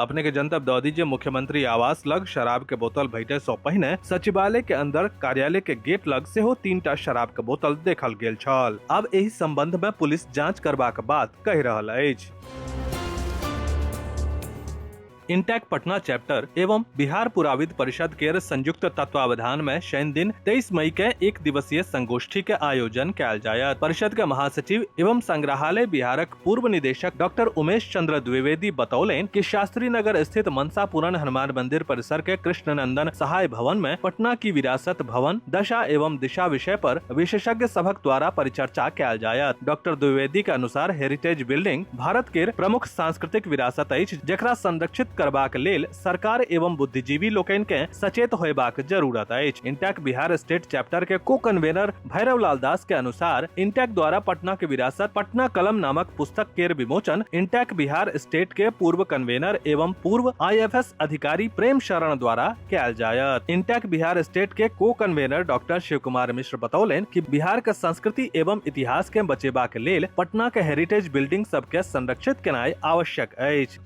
अपने के जनतब दऽ दी जे मुख्यमंत्री आवास लग शराब के बोतल भेटे सौ पहिने सचिवालय के अंदर कार्यालय के गेट लग सेहो तीन टा शराब के बोतल देखल गेल छल अब एहि संबंध में पुलिस जांच करबाक बात कहि रहल अछि इंटेक पटना चैप्टर एवं बिहार पुराविद परिषद के संयुक्त तत्वावधान में शनि दिन 23 मई के एक दिवसीय संगोष्ठी के आयोजन कैल जायत परिषद के महासचिव एवं संग्रहालय बिहारक पूर्व निदेशक डॉक्टर उमेश चंद्र द्विवेदी बतौलेन कि शास्त्री नगर स्थित मनसा पूरण हनुमान मंदिर परिसर के कृष्णनंदन सहाय भवन में पटना की विरासत भवन दशा एवं दिशा विषय पर विशेषज्ञ सभक द्वारा परिचर्चा कयल जायत डॉक्टर द्विवेदी के अनुसार हेरिटेज बिल्डिंग भारत के प्रमुख सांस्कृतिक विरासत अछि जकरा संरक्षित करबाक लेल सरकार एवं बुद्धिजीवी लोकनि के सचेत होयबाक जरूरत अछि इंटैक बिहार स्टेट चैप्टर के को कन्वेनर भैरव लाल दास के अनुसार इंटेक द्वारा पटना के विरासत पटना कलम नामक पुस्तक केर विमोचन इंटेक बिहार स्टेट के पूर्व कन्वेनर एवं पूर्व आईएफएस अधिकारी प्रेम शरण द्वारा कैल जायत इंटेक बिहार स्टेट के को कन्वेनर डॉक्टर शिव कुमार मिश्र बतौलन कि बिहार के संस्कृति एवं इतिहास के बचेबा के लेल पटना के हेरिटेज बिल्डिंग सब के संरक्षित केनाई आवश्यक अछि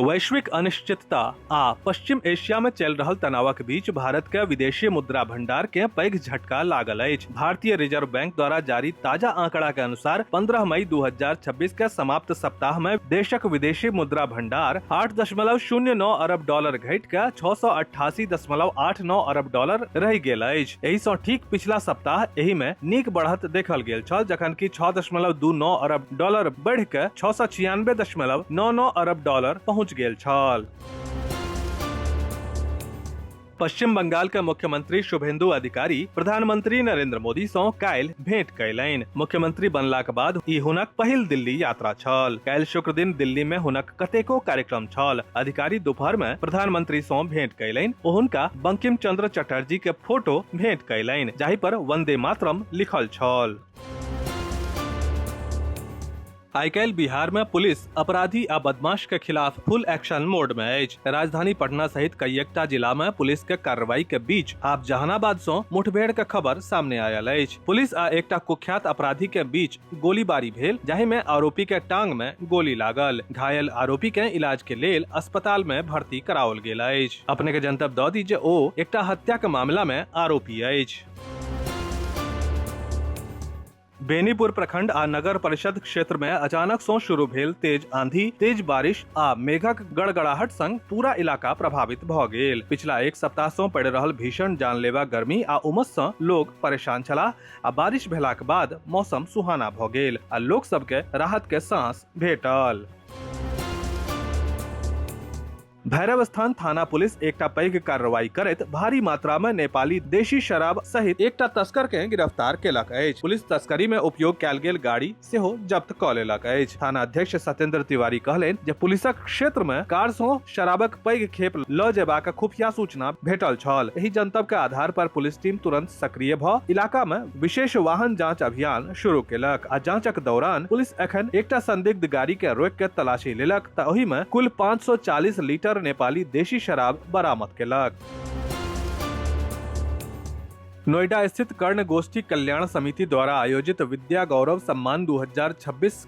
वैश्विक अनिश्चितता आ पश्चिम एशिया में चल रहल तनावक बीच भारत के विदेशी मुद्रा भंडार के पैघ झटका लागल अछि भारतीय रिजर्व बैंक द्वारा जारी ताजा आंकड़ा के अनुसार 15 मई 2026 के समाप्त सप्ताह में देशक विदेशी मुद्रा भंडार 8.09 अरब डॉलर घटि के 688.89 अरब डॉलर रहि गेल अछि एहि सँ ठीक पिछला सप्ताह एहि में नीक बढ़त देखल गेल छल जखन कि 6.29 अरब डॉलर बढ़ि कऽ छओ सए छियानबे दशमलव नओ नओ अरब डॉलर पहुंच गेल छल पश्चिम बंगाल के मुख्यमंत्री शुभेंदु अधिकारी प्रधानमंत्री नरेंद्र मोदी सं काल्हि भेंट कयलनि मुख्यमंत्री बनलाक बाद ई हुनक पहिल दिल्ली यात्रा छल काल्हि शुक्र दिन दिल्ली में हुनक कतेको कार्यक्रम छल अधिकारी दोपहर में प्रधानमंत्री सं भेंट कयलनि ओ हुनका बंकिम चंद्र चटर्जी के फोटो भेंट कयलनि जाहि पर वंदे मातरम लिखल छल आइ काल्हि बिहार में पुलिस अपराधी आ बदमाश के खिलाफ फुल एक्शन मोड में अछि राजधानी पटना सहित कईएकटा जिला में पुलिस के कार्रवाई के बीच आब जहानाबाद सो मुठभेड़ के खबर सामने आयल अछि पुलिस आ एकटा कुख्यात अपराधी के बीच गोलीबारी भेल जाहि में आरोपी के टांग में गोली लागल घायल आरोपी के इलाज के लेल अस्पताल में भर्ती कराओल गेल अछि अपने के जनतब दऽ दी जे ओ एकटा हत्या के मामला में आरोपी अछि बेनीपुर प्रखंड आ नगर परिषद क्षेत्र में अचानक सो शुरू भेल तेज आंधी तेज बारिश आ मेघक गड़गड़ाहट संग पूरा इलाका प्रभावित भ गेल पिछला एक सप्ताह सो पड़ रहल भीषण जानलेवा गर्मी आ उमस स लोग परेशान छलाह आ बारिश भेलाक बाद मौसम सुहाना भ गेल आ लोक सबके राहत के सांस भेटल भैरव स्थान थाना पुलिस एकटा पैघ कार्रवाई करैत भारी मात्रा में नेपाली देशी शराब सहित एकटा तस्कर के गिरफ्तार केलक अछि पुलिस तस्करी में उपयोग कैल गेल गाड़ी सेहो जब्त क लेलक अछि थाना अध्यक्ष सत्येंद्र तिवारी कहलनि जे पुलिसक क्षेत्र में कार सो शराबक पैघ खेप ल जेबाक खुफिया सूचना भेटल छल एहि जनतब के आधार पर पुलिस टीम तुरंत सक्रिय भ इलाका में विशेष वाहन जांच अभियान शुरू केलक आ जांचक दौरान पुलिस एखन एकटा संदिग्ध गाड़ी के रोक के तलाशी लेलक त ओहि में कुल 540 लीटर नेपाली देशी शराब बरामद केलक नोएडा स्थित कर्ण गोष्ठी कल्याण समिति द्वारा आयोजित विद्या गौरव सम्मान 2026